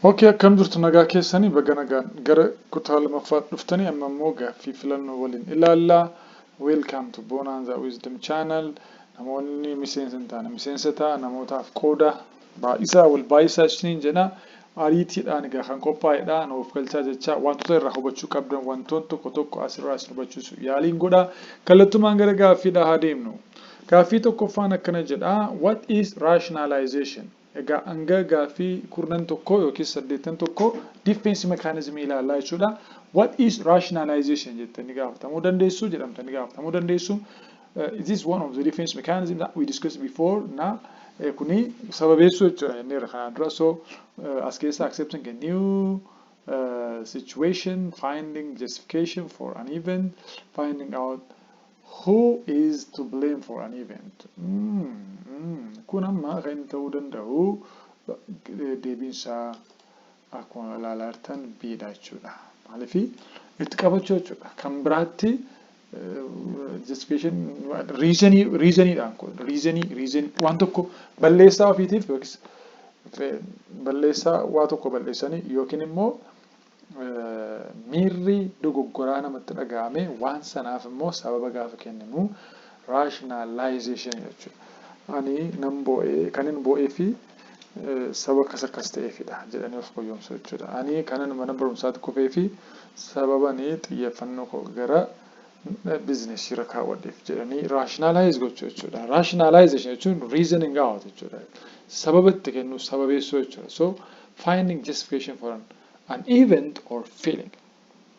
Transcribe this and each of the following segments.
Ok akkam jirtu nagaa keessani baga nagaan gara kutaa lamaffaa dhuftanii amma immoo gaaffii filannoo waliin ilaalla welcome to Bonanza Wisdom channel namoonni miseensa hin taane miseensa ta'a namootaaf qooda Baay'isaa wal baay'isaa isiniin jenna. Ariitiidhaan egaa kan qophaa'edha. Nu of galchaa jechaa wantoota irraa hubachuu qabdan wantoon tokko tokko asirraa isin hubachiisu yaaliin godha. Kallattumaan gara gaaffiidhaa haa deemnu. Gaaffii tokkoffaan akkana jedha What is rationalization? Egaa hanga gaaffii kurnan tokkoo yookiis saddeettan tokko diffeensi mekaanizimii ilaallaa jechuudha. What is rationalization jettanii gaafatamuu dandeessu jedhamtanii gaafatamuu dandeessu. It is one of the defense mechanism that we discussed before na kuni sababeessuu jechuudha jenneerra kanaan dura so as keessa accepting a new uh, situation finding justification for an event finding out who is to blame for an event mm, mm. kun amma kan inni ta'uu danda'u deebiinsaa Akkuma ilaalaa jirtan B dha jechuudha. Maaliif itti qabachuu jechuudha. Kan biraatti justification reasonii reasoniidhaan kun reasonii reason waan tokko balleessaa ofiitiif yookiis balleessaa waa tokko balleessanii yookiin immoo miirri dogoggoraa namatti dhaga'ame waan sanaaf immoo sababa gaafa kenninu rationalization jechuudha. Ani nan boo'ee kan hin boo'ee fi saba akkas akkas ta'eefidha jedhanii of goyyomsuu jechuudha. Ani kanan mana barumsaatti kufee fi sababani xiyyeeffannoo koo gara bizinesii irra kaawwadheef jedhanii rationalize gochuu jechuudha. Rationalization jechuun reasoning out jechuudha. Sababa itti kennuu, sababeessuu jechuudha. So finding justification for an, an event or feeling.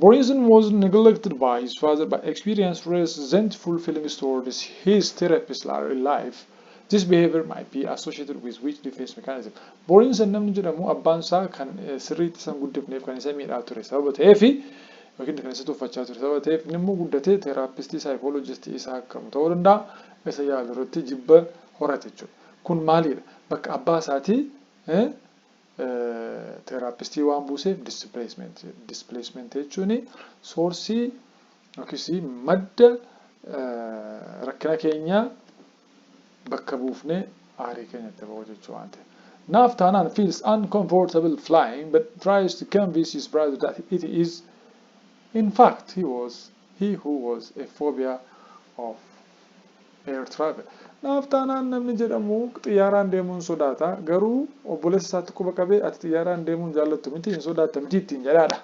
Boyesen was neglected by his father but experienced resentful feelings towards his therapist later in life. This behavior might be associated with weak defense mechanism. Boyesen namni jedhamu abbaan isaa kan sirriitti isa hin guddifneef kan isa miidhaa ture sababa ta'eef yookiin kan isa tuffachaa ture sababa ta'eef inni immoo guddatee teeraapistii saayikoolojistii isa akkamu ta'uu danda'a isa yaalu irratti jibba horate jechuudha. Kun maalidha? Bakka abbaa isaatii Teeraappistii waan buuseef displacement jedhe. Displacement jechuun soorsii yookiis madda rakkina keenyaa bakka buufnee aarii keenya itti ba'uu jechuu waan ta'eef. Naaf taanaan feels uncomfortable flying but tries to convince his brother that it is in fact he was He who was a phobia of air travel. Naaf taanaan namni jedhamu xiyyaaraan deemuun sodaata, garuu obboleessa isaatti quba qabee ati xiyyaaraan deemuun jaallattu miti, hin sodaatta miti ittiin jedhaadha.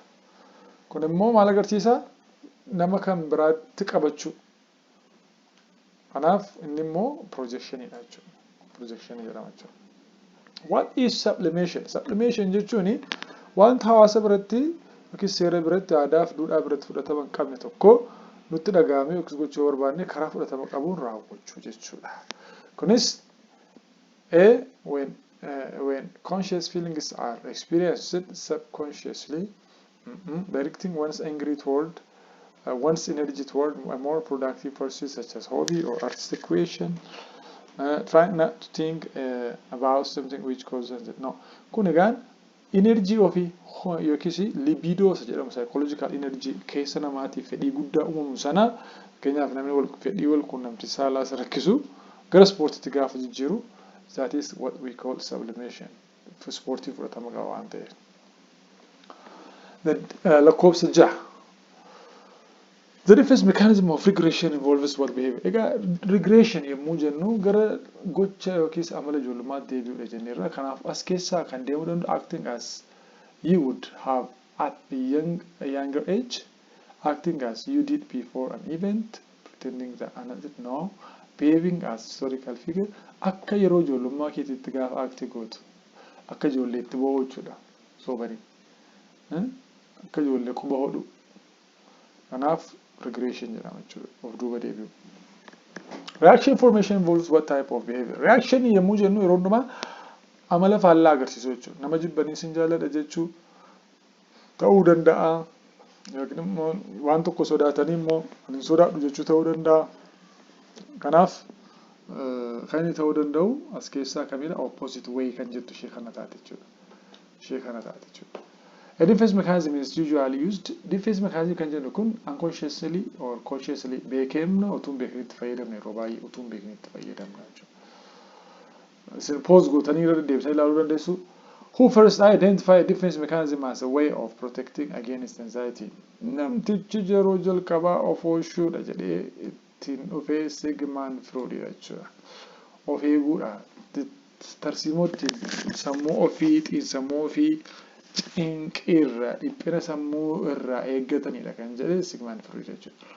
Kun immoo maal agarsiisa? Nama kan biraatti qabachuu. Kanaaf inni immoo projection dha jechuudha. Projection jedhama jechuudha. What is sublimation? Sublimation jechuun wanta hawaasa biratti yookiin seera biratti aadaa fi duudhaa biratti fudhatama hin qabne tokko nutti dhaga'amee yookiis gochuu yoo barbaanne karaa fudhatama qabuun raawwachuu jechuudha. Kunis A. When, uh, when conscious feelings are experienced subconsciously Directing one's angry toward one's energy toward a more productive pursuit such as hobby or artistic creation. Uh, try not to think uh, about something which causes it. No. Kun egaan energy ofii ho- yookiis libido isa jedhamu psychological energy keessa namaatiif fedhii guddaa uumamu sana fakkeenyaaf namni wal, fedhii wal quunnamtii saalaa isa rakkisu gara ispoortiitti gaafa jijjiiru that is what we call sublimation. ispoortii fudhatama qaba waan ta'eef. Then, uh, lakkoofsa jaha. The defense mechanism of regression involves what behavior? Egaa regression yommuu jennu gara gocha yookiis amala ijoollummaa deebi'uudha jenneerra. Kanaaf as keessaa kan deemuu danda'u acting as you would have at a young, a younger age Acting as you did before an event, pretending that an act no, behaving as historical figure, akka yeroo ijoollummaa keetiitti gaafa act gootu, akka ijoolleetti boo'uu jechuudha soobanii, akka ijoollee quba hodhuu, kanaaf regression jedhama jechuudha, of duuba deebi'uu. Reaction formation involves what type of behavior? Reaction yommuu jennu yeroo hundumaa amala faallaa agarsiisuu jechuudha. Nama jibbanii sin jaalladha jechuu, ta'uu danda'a. Yookiin immoo waan tokko sodaatanii immoo ani hin sodaadhu jechuu ta'uu danda'a. Kanaaf kan inni ta'uu danda'u as keessaa kamidha? Opposite way kan jettu ishee kana taate jechuudha. Ishee kana taate jechuudha. A defense mechanism is usually used. Defense mechanism kan jennu kun unconsciously or consciously beekemna utuun beekne itti fayyadamna yeroo baay'ee utuun beekne itti fayyadamna jechuudha. Isin pause gootanii irra deddeebitanii ilaaluu dandeessu. Who first identify a defense mechanism as a way of protecting against anxiety? Namtichi yeroo jalqabaa of oolchuudha jedhee ittiin dhufe Sigmund Freud dha jechuudha. Of eeguudha. Tarsiimoo ittiin sammuu ofii, xiinsammuu ofii cinqiirraa, dhiphina sammuu irraa eeggataniidha kan jedhe Sigmund Freud jechuudha.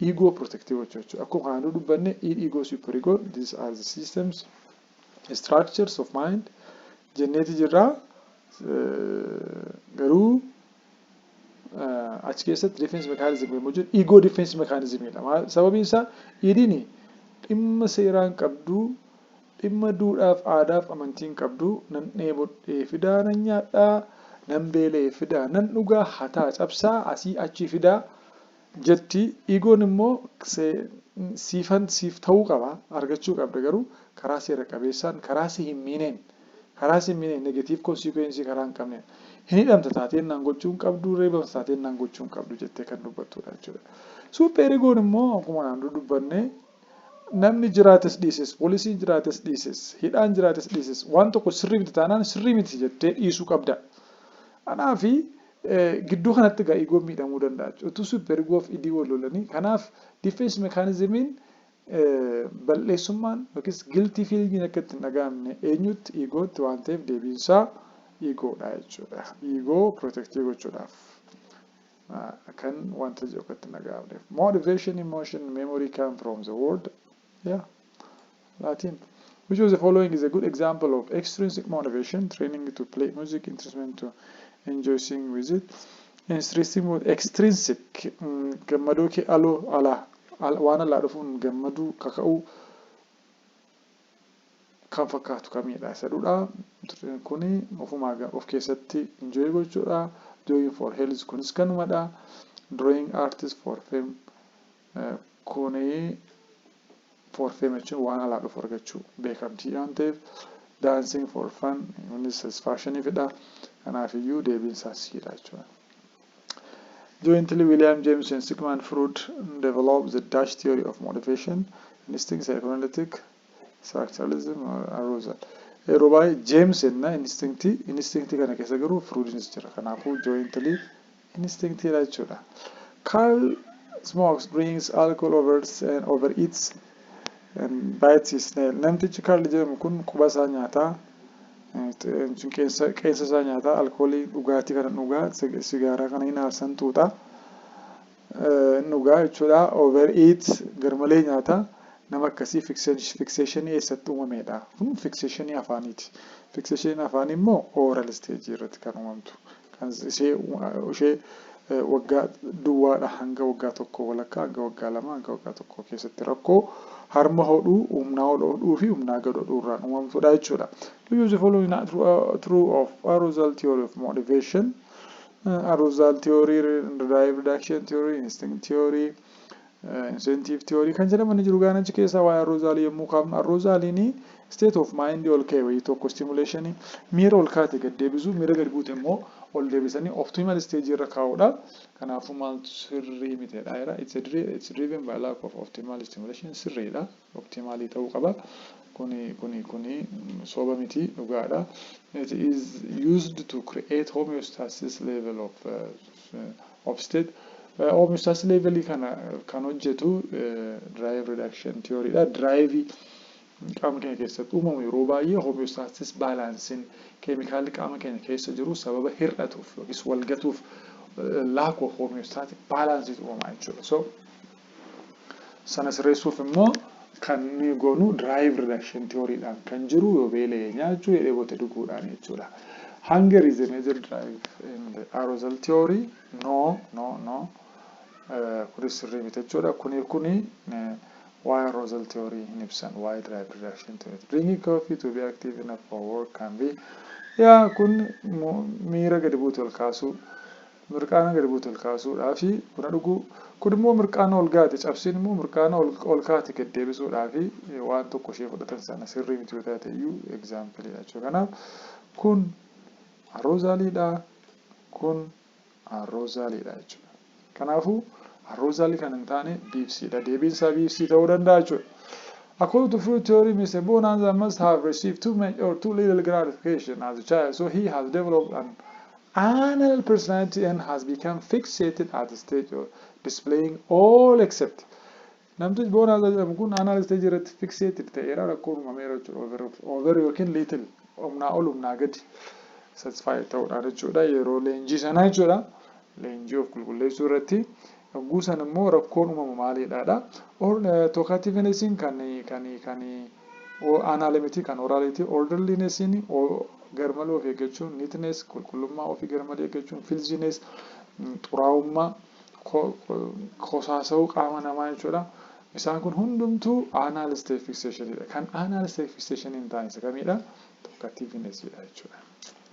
Ego protective gochuu jechuudha. Akkuma kanaan dura dubbanne id, ego, super ego, these are the systems, structures of mind jenneeti jirra. Garuu achi keessatti defense mechanism yommuu jiru ego defense mechanism dha. Sababiin isaa idin dhimma seeraan qabdu, dhimma duudhaaf aadaaf amantiin qabdu nan dheebodhee fidaa nan nyaadhaa, nan beela'ee fidaa nan dhugaa, hataa cabsaa asii achii fidaa, jetti Igoon immoo siifan siif ta'uu qaba argachuu qabda garuu karaa seera qabeessaan karaa si hin miineen karaa si hin miineen negatiiv konsiikuweensii karaa hin qabneen hin hidhamta taateen naan gochuu hin qabdu reebamta taateen naan gochuu hin qabdu jettee kan dubbattuudha jechuudha suupheer Igoon immoo akkuma naan dudubbanne namni jiraates dhiises poolisiin jiraates dhiises hidhaan jiraates dhiises waan tokko sirrii miti taanaan sirrii miti jettee dhiisuu qabda anaa fi Gidduu kanatti egaa Igoon miidhamuu danda'a jechuudha. Utuu Super Igoo fi Idii wal lolanii. Kanaaf Defense Mechanism'n bal'eessummaan yookiis Guilty Feeling'n akka itti hin dhaga'amne eenyutti? Igootti waan ta'eef deebiin isaa Igoo dha jechuudha. Igoo protectii gochuudhaaf kan wanta jiru akka itti hin dhaga'amneef. Motivation, Emotion, Memory come from the word Yeah, Latin. Which of the following is a good example of extrinsic motivation, training to play music, instrument to enjoy singing with it? Extrinsic, mo- extrinsic mm, gammadoo kee aloo alaa al, waan alaa dhufuun gammaduu kaka'uu kan fakkaatu kamiidha isa dudha kuni ofumaa ga- of keessatti enjoy gochuudha doing for health kunis kanumadha drawing artist for fame Kuni forfee macha waan alaa dhufu argachuu beekamtii waan ta'eef dancing for fun innis as faashiniifidha. Kanaafiyyuu deebiin isaas siidha jechuudha. Jointly William James and Sigmund Freud developed the Dutch theory of motivation, instinct, psychoanalytic, structuralism, or arousal. Yeroo baay'ee James enna instinct instinct kana keessa garuu Freudnis jira. Kanaafuu jointly instinct dha jechuudha. Carl smokes, drinks alcohol, overs and over eats and bites his nail. Namtichi Carl jedhamu kun quba isaa nyaata, qeensa qeensa isaa nyaata, alkoolii dhugaatii kana dhuga, sigaaraa kana hin aarsan xuuxa, hin dhugaa jechuudha. Over eat garmalee nyaata. Nama akkasii fikseeshinii eessatti uumameedha. Kun fikseeshinii afaaniiti. Fikseeshiniin afaanii immoo ooral isteejii irratti kan uumamtu. Kan isee ushee waggaa duwwaadha hanga waggaa tokkoo walakkaa hanga waggaa lamaa hanga waggaa tokkoo keessatti rakkoo harma hodhuu humnaa ol hodhuu fi humnaa gad hodhuu irraan uumamtudha jechuudha. To use the following not true, uh, true of arousal theory of motivation, uh, arousal theory, drive reduction theory, instinct theory, Incentive theory kan jedhaman ni jiru gaan achi keessaa waa'ee arroozaalii yommuu kaafnu arroozaaliin state of mind ol ka'e wayii tokko stimulation miira ol kaate gad deebisuu miira gad buute immoo ol deebisanii optimal stage irra kaa'uudha kanaafuu maaltu sirrii miteedha jira it's driven by lack of optimal stimulation sirriidha. Waqtii maalii ta'uu qaba? Kuni kuni kuni soba miti dhugaadha. It is used to create homeostasis level of of state. Homeostasis level kana kan hojjetu drive reduction theory dha. Drive qaama keenya keessatti uumamu yeroo baay'ee homeostasis baalaansiin keemikaalli qaama keenya keessa jiru sababa hir'atuuf yookiis walgatuuf lack of homeostatic balance uumamaa jechuudha. So Sana sirreessuuf immoo kan nuyi goonu drive reduction theory dhaan kan jiru yoo beela'e nyaachuu yoo dheebote dhuguudhaan jechuudha. Hunger is a major drive in the arousal theory. No, no, no. Kunis sirrii miti jechuudha. Kuni kuni waa'ee arousal theory hin ibsan, waa'ee drive reduction theory. Drinking coffee to be active enough for work can be yaa kun miira gadi buutu ol kaasuu Mirqaana gadi buute ol kaasuudhaafi buna dhuguu. Kun immoo mirqaana ol gaate cabsiin immoo mirqaana ol kaate gad deebisuudhaafi waan tokko ishee fudhatan sana sirrii miti yoo taate iyyuu example dha jechuudha. Kanaaf kun arroozaalii dha kun arroozaalii dha jechuudha. Kanaafuu arroozaalii kan hin taane biibsii dha. Deebiin isaa biibsii ta'uu danda'a jechuudha. According to Freud theory, Mr. Bonanza must have received too much or too little gratification as a child, so he has developed an Anal personality N has become fixated at stage of displaying all except Namtichi Boonaasaa jedhamu kun anal stage irratti fixated ta'eera rakkoon uumameera jechuudha over over yookiin little humnaa ol humnaa gadi satisfied ta'uudhaan jechuudha yeroo leenjii sanaa jechuudha leenjii of qulqulleessuu irratti Yogguu san immoo rakkoon uumamu maaliidha dha. Or, Talkativenessiin kan, kan, kan aanaale miti, kan oraalii ti. Orderlinessiin garmalee of eeggachuu, neatness, qulqullummaa ofii garmalee eeggachuu, filthiness, xuraa'ummaa, ko, kosaasa'uu qaama namaa jechuu dha. Isaan kun hundumtuu aanaal state fixation dha. Kan aanaal state fixation hin taane isa kamiidha? Talkativeness dha jechuu dha.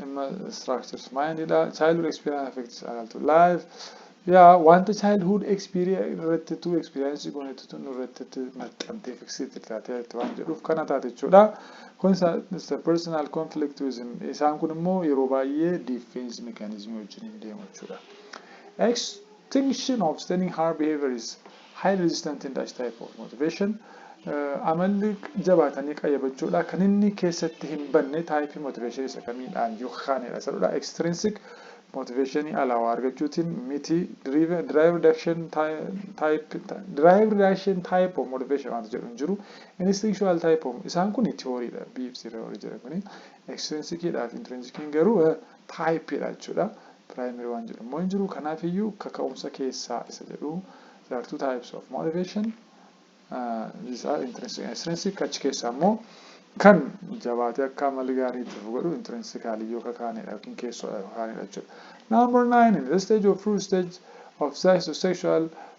dhimma structures mindidha childhood experience affects adulthood life yaa wanta childhood experience irratti tu experience goonetti tu nurratti itti maxxantee fixated taatee itti waan jedhuuf kana taate jechuudha kun isa isa personal conflict with him. isaan kun immoo yeroo baay'ee defense mechanism wajjin hin deemu jechuudha extinction of standing hard behavior is Highly resistant in dash type of motivation Amalli jabaatanii qayyabachuudha. Kan inni keessatti hin banne taayipii motivation isa kamiidha yookaanidha. Isa dura extrinsic motivation alaa waa argachuutiin miti drive drive reduction type drive reduction type of motivation waanti jedhu hin jiru. Instinctual type of isaan kun theory dha. BFC theory jedhan kuni extrinsic dha fi intrinsic garuu type dha jechuudha. Primary waan jedhu immoo hin jiru. Kanaaf iyyuu kaka'umsa keessaa isa jedhu there are two types of motivation these are intrinsic and extrinsic achi keessaa immoo kan jabaatee akka amalli gaarii itti fufu godhu intrinsically yoo kakaanedha yookiin keessoodha kakaanedha jechuudha. Number nine in the stage of fruit stage of psychosexual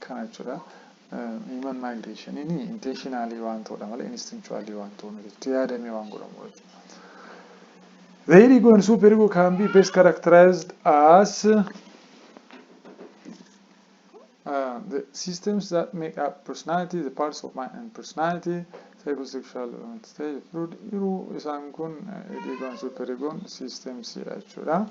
kana jechuudha. Human migration inni intentionally waan ta'udha malee instinctually waan ta'u miti. Itti yaadamee waan godhamu jechuudha. The ego and super ego can be best characterized as uh, the systems that make up personality, the parts of mind and personality, psychosexual stage fluid. Yeroo isaan kun ego and super ego systems jechuudha.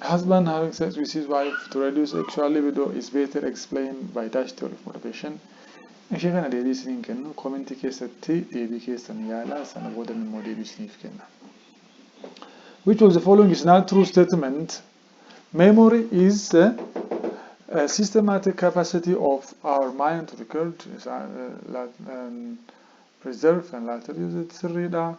Husband having sex with his wife to reduce sexual libido is better explained by dash theory of motivation. Ishee kana deebii isiniin kennu koomentii keessatti deebii keessan yaala sana boodan immoo deebii isiniif kenna. Which of the following is not true statement? Memory is a, a systematic capacity of our mind to record. Is, uh, uh, um, preserves and later use it sirriidha.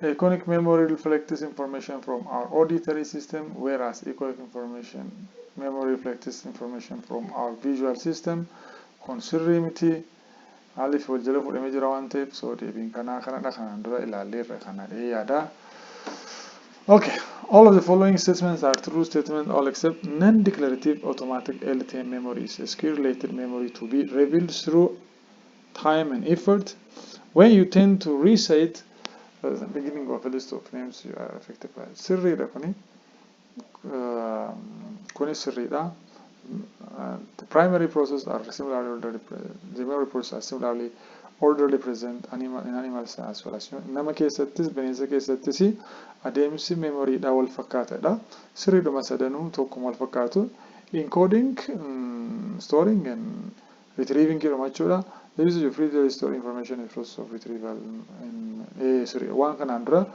Iconic memory reflects information from our auditory system whereas echoic information memory reflects information from our visual system kun sirrii miti maaliif wal jala fudhamee jira waan ta'eef soo deebiin kanaa kanadha kanaan dura ilaalleerra kana dhee yaada. Okay, all of the following statements are true statements all except non-declarative automatic LTM memory is a secure related memory to be revealed through time and effort when you tend to recite uh, the beginning of a list of names you are affected by sirriidha kuni uh, kuni sirriidha Uh, the primary process are similarly orderly pre- the memory process are similarly orderly present animal in animals as well as human. nama keessattis bineensa keessattis adeemsi memoryidha wal fakkaatadha sirriidhuma sadanuu tokkuma wal fakkaatu encoding mm, storing and Retrieving Hirumachuudha Use your free to store information in process of retrieval Siri Waan kanaan dura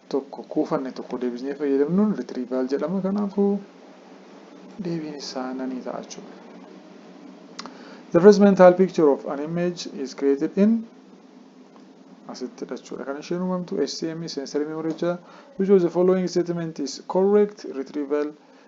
tokko kuufanne tokko deebisnee fayyadamnuun retrieval jedhama kanaafuu deebiin isaa nanii ta'a jechuudha. The first mental picture of an image is created in asitti dhachuudha kan isheen uumamtu SCM sensory memory jecha which of the following statement is correct retrieval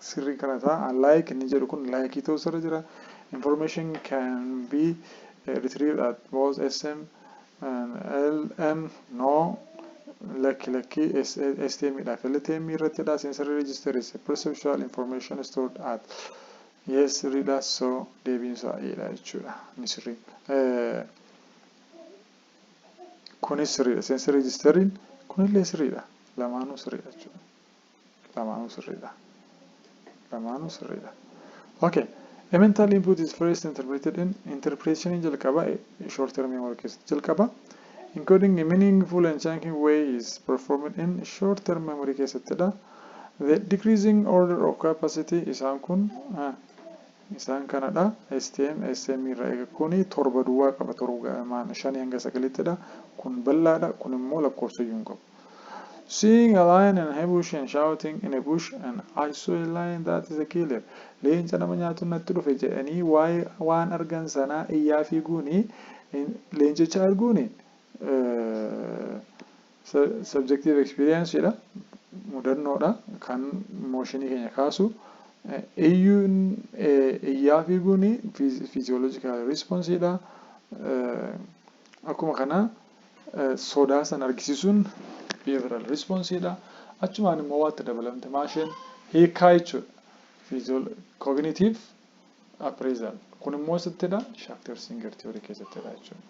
sirrii kana ta, a like inni jedhu kun like ta'uu isarra jira information can be retrieved at both sm and lm no lakki lakki stm dha fltm irratti dha sensory register is a perceptual information stored at yes sirrii dha so deebiin isaa e dha jechuudha inni sirriin kunis sirriidha sensory registerin kunillee sirriidha lamaanuu sirriidha jechuudha Lamaanuu sirriidha. Lamaanuu sirriidha. Okay. A mental input is first interpreted in interpretation jalqaba short term memory keessatti jalqaba. Encoding a meaningful and chunking way is performed in short term memory keessattidha. The decreasing order of capacity isaan kun isaan kanadha. STM, SM irra eega kuni torba duwwaa qaba torba shanii hanga sagalittidha. Kun bal'aadha kun immoo lakkoofsayyuu hin qabu. Seeing a lion in a bush and shouting in a bush and I saw a lion that is a killer Leenca nama nyaatu natti dhufe jedhanii waa'ee waan argan sanaa iyyaa fiiguuni leencicha arguuni subjective experience dha mudannoodha kan mooshinii keenya kaasu iyyuun iyyaa fiiguuni physiological response dha akkuma kana Sodaa san argisiisuun behavioral response dha. Achumaan immoo waatti dabalamte maa isheen hiikkaa jechuudha. Physiol cognitive appraisal. Kun immoo eessattidha? Shatter Singer theory keessattidha jechuudha.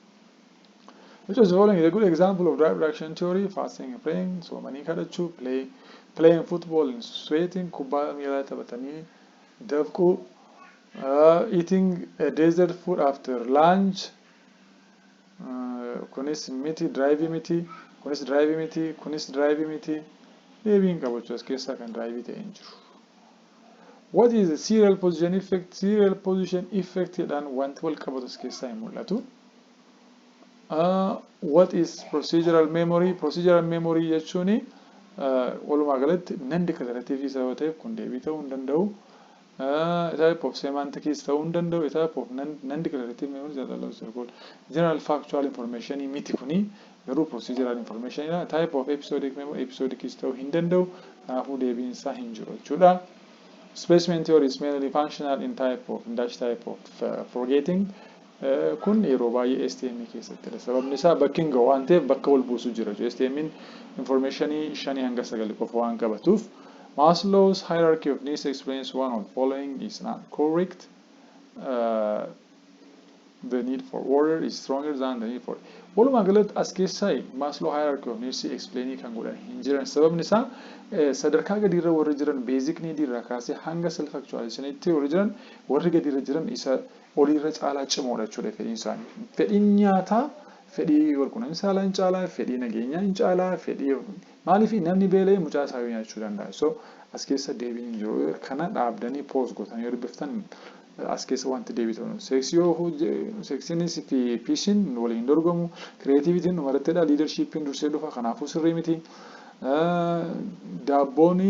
Which of the following is a good example of drive reaction theory? Fasting and praying, soomanii kadhachuu, play, playing football and sweating, kubbaa miilaa taphatanii dafquu, uh, eating a dessert food after lunch, kunis miti diraayivii miti kunis diraayivii miti kunis diraayivii miti deebii hin qabu as keessaa kan diraayivii ta'e hin jiru. What is the serial position effect? Serial position effect jedhaan wanti wal qabatu as keessaa hin mul'atu. What is procedural memory? Procedural memory jechuun walumaa galatti nan declarative isa yoo ta'eef kun deebii ta'uu hin danda'u. A type of semantic keys ta'uu hin danda'u, a type of non, non-declarative memory that allows to record general factual information miti kuni, garuu procedural information dha, a type of episodic memory, episodic keys ta'uu hin danda'u, kanaafuu deebiin isaa hin jiru jechuudha. Displacement theory is mainly functional in type of, in dash type of forgetting. Kun yeroo baay'ee STM keessattidha. Sababni isaa bakki hin gahu waan ta'eef bakka wal buusu jira jechuudha. STM'n infoormeeshinii shanii hanga sagali qofa waan qabatuuf. Maslow's hierarchy of needs explains one of following is not correct. The need for order is stronger than the need for Walumaa galatti as keessaa Maslow hierarchy of needs explainii kan godhan hin jiran. Sababni isaa sadarkaa gadiirra warri jiran basic need irraa kaasee hanga self actualization'tti warri jiran warri gadiirra jiran isa olii irra caalaa cimoodha jechuudha fedhiin isaanii. Fedhiin nyaataa fedhii walqunnamtii saalaa hin caalaa, fedhii nageenyaa hin caalaa, fedhii maaliif namni beela'ee mucaa isaa yoo nyaachuu danda'a. So as keessa deebiin hin jiru. Kana dhaabdanii poos gootanii yoo dubbiftan as keessa wanti deebii ta'u. Seeksii yoo seeksiinis fi piisiin waliin hin dorgomu. Kireetiivitiin dhuma irratti dha. Liidarshiippiin dursee dhufa. Kanaafuu sirrii miti. Daabboon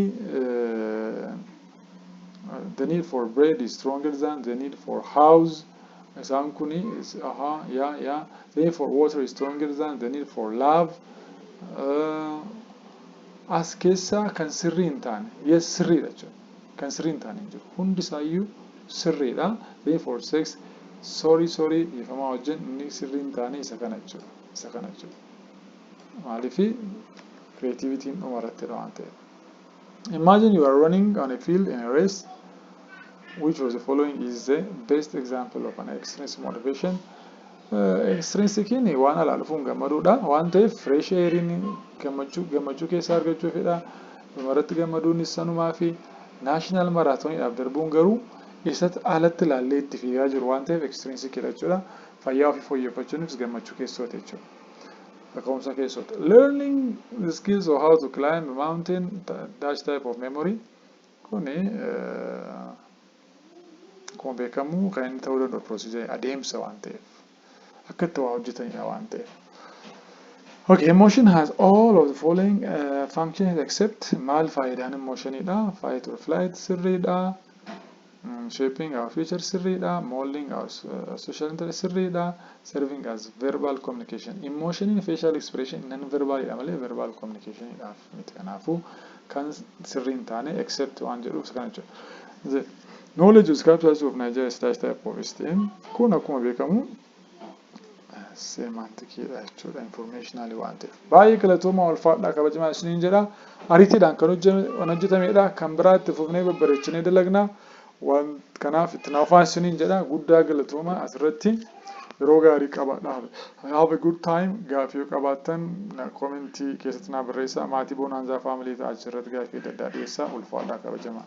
the need for bread is stronger than the need for house isaan kun aha ya ya the need for water is stronger than the need for love uh, as keessaa kan sirrii hin taane yes sirriidha jechuudha kan sirrii hin taane hin jiru hundi isaayyuu sirriidha the need for sex sorry sorry dhiifamaa wajjin inni sirrii hin taane isa kana jechuudha isa kana jechuudha maaliifi creativitiin dhuma irratti waan ta'eef Imagine you are running on a field in a race, which of the following is the best example of an extrinsic motivation? Extrinsikiin waan alaa dhufuun gammaduudha. Waan ta'eef fresh airiin gammachuu gammachuu keessa argachuufidha. Dhumarratti gammaduunis sanumaa fi naashinaal maraatooniidhaaf darbuun garuu isatti alatti ilaallee itti fiigaa jiru waan ta'eef extrinsikidha jechuudha. Fayyaa ofii fooyyeffachuunis gammachuu keessooti jechuudha. Kaka'umsa keessooti. Learning skills of how to climb a mountain dash type of memory kuni akkuma beekamu kan inni ta'uu danda'u procedure adeemsa waan ta'eef akka itti waa hojjetanidha waan ta'eef. Okay, emotion has all of the following uh, functions except maal faayidaan emotionidha fight or flight sirriidha shaping our future sirriidha, molding our social interest sirriidha, serving as verbal communication. Emotion in facial expression non verbal dha malee verbal communication dhaaf miti kanaafu kan sirrii hin taane except waan jedhuuf isa kana jechuudha. The knowledge of scriptures of Nigeria is type of STM kun akkuma beekamu seemantikiidha jechuudha informationally waan ta'eef. Baay'ee galatoomaa ulfaadhaa kabajamaa isiniin jedha. Ariitiidhaan kan hojjetamedha. Kan biraa itti fufnee babbareechinee dalagna. Waan kanaaf itti naafaa isiniin jedha. Guddaa galatoomaa asirratti yeroo gaarii qabaadha. Have a good time. Gaafii yoo qabaattan komentii keessatti naa barreessaa. Maatii Bonaanzaa faamilii ta'aa achirratti gaafii adda addaa dhiyeessaa. Ulfaadhaa kabajamaa.